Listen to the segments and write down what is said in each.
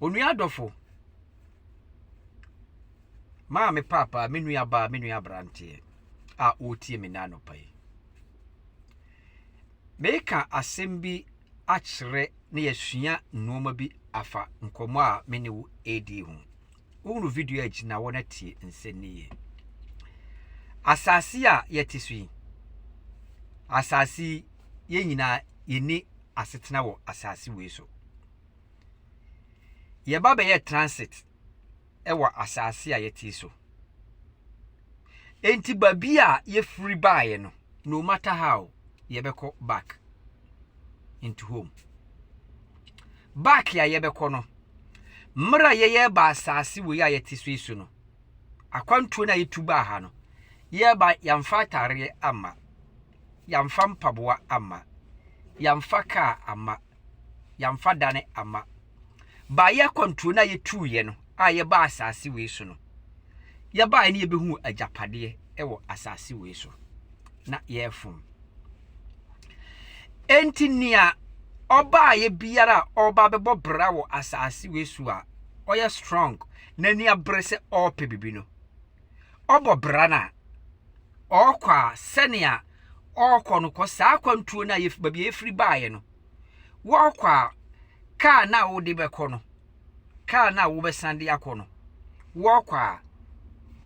Onua dɔfo, maame paapaa, me nua baa, me nua aberanteɛ a ɔretie me nna anɔpa yi. Meka asɛm bi akyerɛ na yɛasua nneɛma bi afa nkɔmmɔ a me ne wo ɛredi ho. Wohunu video a agyina hɔ na tie nsɛnniiɛ. Asase a yɛte so yi, asase yi, yɛn nyinaa yɛnni asetena wɔ asase wei so. Yɛba bɛyɛɛ transit wɔ asase a yɛte so. Enti baabi a yɛfiri baeɛ no, no matter how, yɛbɛkɔ back into home. Back a yɛbɛkɔ no, mmerɛ a yɛyɛ ba asase wei a yɛte so yi so no, akwantuo no a yɛtu baa ha no, yɛba yɛamfa ataareɛ amma, yɛamfa mpaboa amma, yɛamfa kaa amma, yɛamfa dane amma. Baeɛ akwantuo no a yɛtuuiɛ no a yɛbaa asase wei so no, yɛbaeɛ no yɛbɛhuu agyapadeɛ wɔ asase wei so na yɛrefom. Enti nea ɔbaeɛ biara a ɔba bɛbɔ bra wɔ asase wei so a ɔyɛ strong na ni abere sɛ ɔrepɛ biribi no, ɔbɔ bra no a, ɔkɔ a sɛnea ɔkɔ no kɔ saa akwantuo no a yɛf baabi a yɛfiri baeɛ no, wɔkɔ a kaa no a wode bɛkɔ no, kaa no a wobɛsan de akɔ no, wɔkɔ a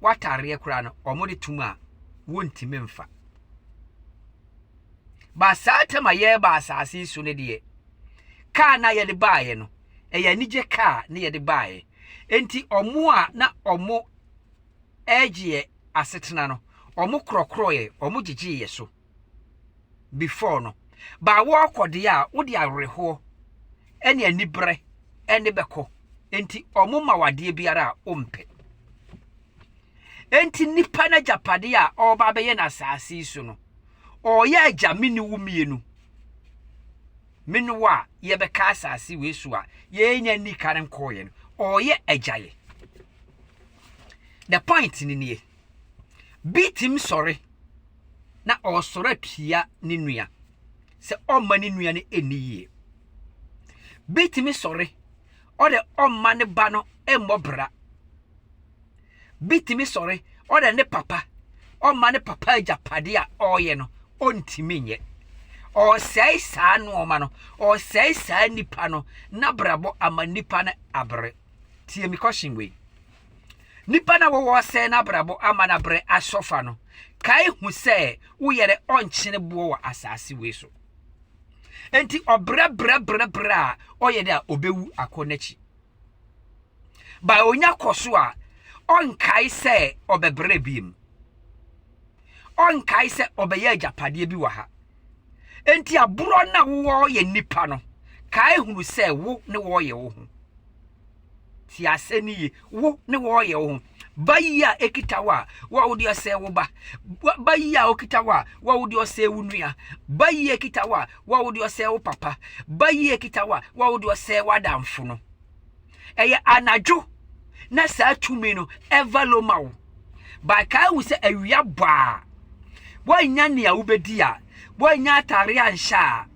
watareɛ koraa no wɔde tom a wɔntumi mfa. Ba saa tam a yɛreba asase so no deɛ, kaa no a yɛde baeɛ no, ɛyɛ anigye kaa na yɛde baeɛ. Enti wɔn a na wɔn ɛregye yɛn asetena no, wɔkorɔkorɔeɛ, wɔgyegyee yɛn so before no. Ba wɔrekɔ deɛ a, wode awerɛhoɔ ne aniberɛ ne bɛkɔ. Enti wɔma wo adeɛ biara a wompɛ. Enti nipa no agyapadeɛ a ɔreba abɛyɛ no asase yi so no, ɔreyɛ agya me ne wo mmienu. Me ne wo a yɛbɛka asase wei so a yɛnya nni kan nkɔɔeɛ no, ɔreyɛ agya yɛ. The point no nie, bi tumi sɔre na ɔresɔre atua ne nua sɛ ɔmma ne nua no ɛnni yie. Bi tumi sɔre ɔde ɔmma ne ba no mmɔ bra. Bi tumi sɔre ɔde ne papa ɔmma ne papa agyapadeɛ a ɔreyɛ no ɔntumi nyɛ. Ɔresɛe saa nnoɔma no, ɔresɛe saa nipa no n'abrabɔ ama nipa no abere. Tie me question wei. Nipa na wɔwɔ sɛ n'abrabɔ ama n'abrɛ asɔfa no, kae hu sɛ woyɛrɛ ɔnkyene boɔ wɔ asase wei so. Enti ɔbrɛbrɛbrɛbrɛ a ɔyɛ dɛ a ɔbɛwu akɔ n'akyi. Ba onya kɔ so a, ɔnkae sɛ ɔbɛbrɛ biem. Ɔnkae sɛ ɔbɛyɛ agyapadeɛ bi wɔ ha. Enti aborɔ no a woyɛ nnipa no, kae hunu sɛ wo ne wɔyɛ wo ho. Tie asɛ no yie, wo ne wɔyɛ wo ho. Ba yi a ɛkita wo a, wo a wode ɔsɛe wo ba. Ba yi a ɔkita wo a, wo a wode ɔsɛe wo nua. Ba yi a ɛkita wo a, wo a wode ɔsɛe wo papa. Ba yi a ɛkita wo a, wo a wode ɔsɛe w'adamfo no. ɛyɛ anadwo na saa tumi no ɛvalo ma wo but kae wo sɛ awia bɔ a woannya nea wobɛdi a woannya atare anhyɛ a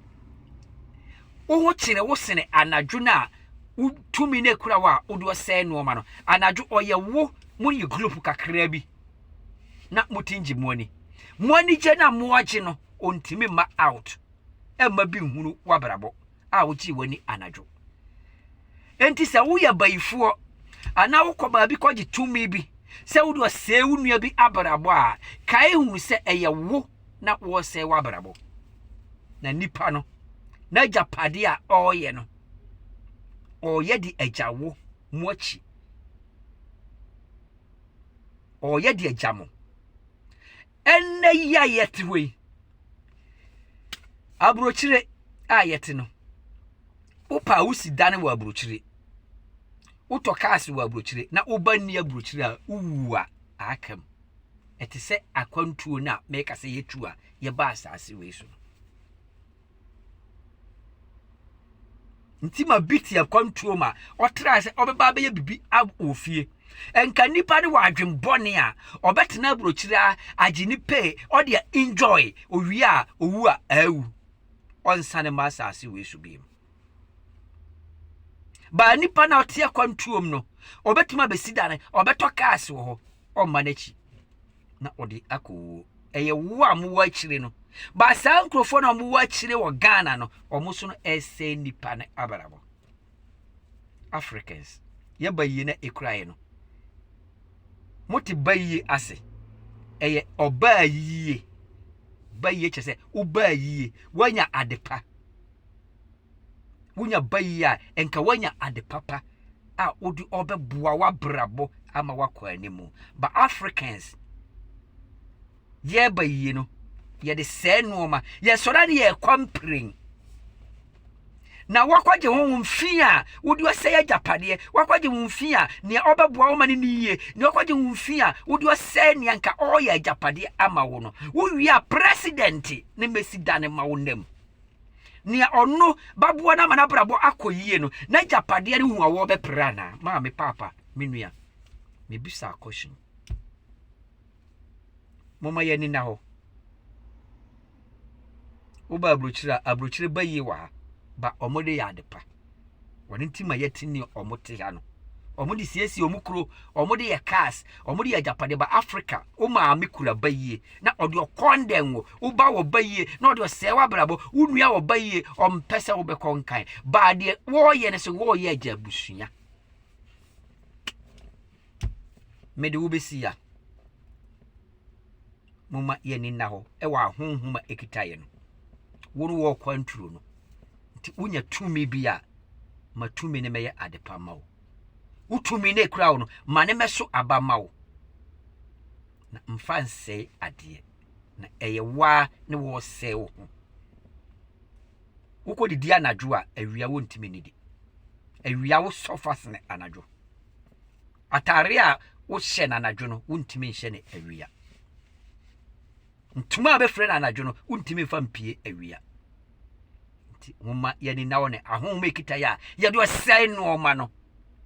wo ho kyene wo sene anadwo no a wotumi no akura wo a wode ɔsɛe nnoɔma no anadwo ɔyɛ wo mo yɛ group kakraa bi na motin gye mo ani mo anigye no a moagye no ɔntumi mma out ɛmma bi nhunu wabrabɔ a wogyee w'ani anadwo. Enti sɛ woyɛ bayifoɔ anaa wokɔ baabi kɔgye tumi bi sɛ wode ɔsɛe wo nua bi abrabɔ a, kae hu sɛ ɛyɛ wo na wɔresɛe w'abrabɔ. Na nipa no, n'agyapadeɛ a ɔreyɛ no, ɔreyɛ de agya wo mo akyi. Ɔreyɛ de agya mo. Ɛnnɛ yi a yɛte hɔ yi, aburokyire a yɛte no, wopɛ a wosi dan wɔ aburokyire, wotɔ cars wɔ aburokyire na woba nni aburokyire a wowu a aka mu. Ɛte sɛ akwantuo no a mɛka sɛ yɛtu a yɛba asaase wei so. Nti ma bi te akwantuo ma ɔtraa sɛ ɔbɛba abɛyɛ biribi wɔ fie. Nka nipa no wɔ adwen bɔne a ɔbɛtena aburokyire a agye ne pay ɔde a enjoy owie a owu a awu. Ɔnsane ma asase wei so bio. Baa nipa na ɔte akwantuom no ɔbɛtumi abɛsi dane ɔbɛtɔ cars wɔ hɔ ɔmma n'akyi. na ɔde akɔ wuo ɛyɛ wo a mowɔ akyire no ba saa nkurɔfoɔ no a mowɔ akyire wɔ ghana no ɔmo so no ɛsɛ nipa no abrabɔ africans yɛba yie na ɛkura yɛ no mote ba yie ase ɛyɛ ɔbaa yie ba yie kyɛ sɛ wobaa yie woanya adepa Wonya ba yi a, nka woanya ade papa a wode ɔbɛboa w'abrabɔ ama woakɔ anim. But Africans, yɛba yie no, yɛde sɛe nnoɔma. Yɛsɔre a ne yɛkɔ mpirin. Na woakɔgye ho ho mfi a wode ɔsɛe agyapadeɛ, woakɔgye ho mfi a nea ɔbɛboa wo ma ne ne yie, nea ɔkɔgye ho mfi a wode ɔsɛe nea nka ɔreyɛ agyapadeɛ ama wo no. Wowie a president ne mɛsi dane ma wo nam. Nea ɔno baboa no ama n'abrabɔ akɔ yie no, n'agyapadeɛ no ho awɔ bɛpere anaa? Maame, paapa, me nua, mebisa question. Momma yɛn ani nna hɔ. Woba aburokyire a, aburokyire ba yie wɔ ha, ba wɔde yɛ adepa. Wɔn nti ma yɛte ne wɔn te ha no. Wɔn de siesie wɔn kuro, wɔn de yɛ cars, wɔn de yɛ agyapade ba Africa. Wo maame kura ba yie na ɔde ɔkɔndɛn wo. Wo ba wɔ ba yie na ɔde ɔsɛe w'abrabɔ. Wo nua wɔ ba yie, ɔmpɛ sɛ wobɛkɔ nkan. Baa deɛ wɔreyɛ no sɛ wɔreyɛ agya abusua. Mede wobɛsi ya. momma yɛn ani nna hɔ wɔ ahonhom a ekita yɛn no. Wo no wɔ kwanturo no, nti wonya tumi bi a, ma tumi no mɛyɛ adepa ma wo. Wo tumi no ekura wo no, ma ne mɛso aba ma wo. Na mfa nsɛe adeɛ, na ɛyɛ waa ne wɔresɛe wo ho. Wokɔ didi anadwo a, awia wontumi nidi. Awia wo sɔfa sene anadwo. Atare a wohyɛ no anadwo no, wontumi nhyɛ no awia. Ntoma a bɛfrɛ no anadwo no, wontumi mfa mpie awia. Nti momma yɛni na wɔ ne ahonhom ekita yɛ a yɛde ɔsɛe nnoɔma no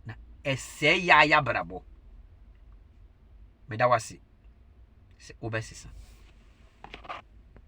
na ɛsɛe yɛ a yɛabrabɔ. Meda wase sɛ wobɛsesa.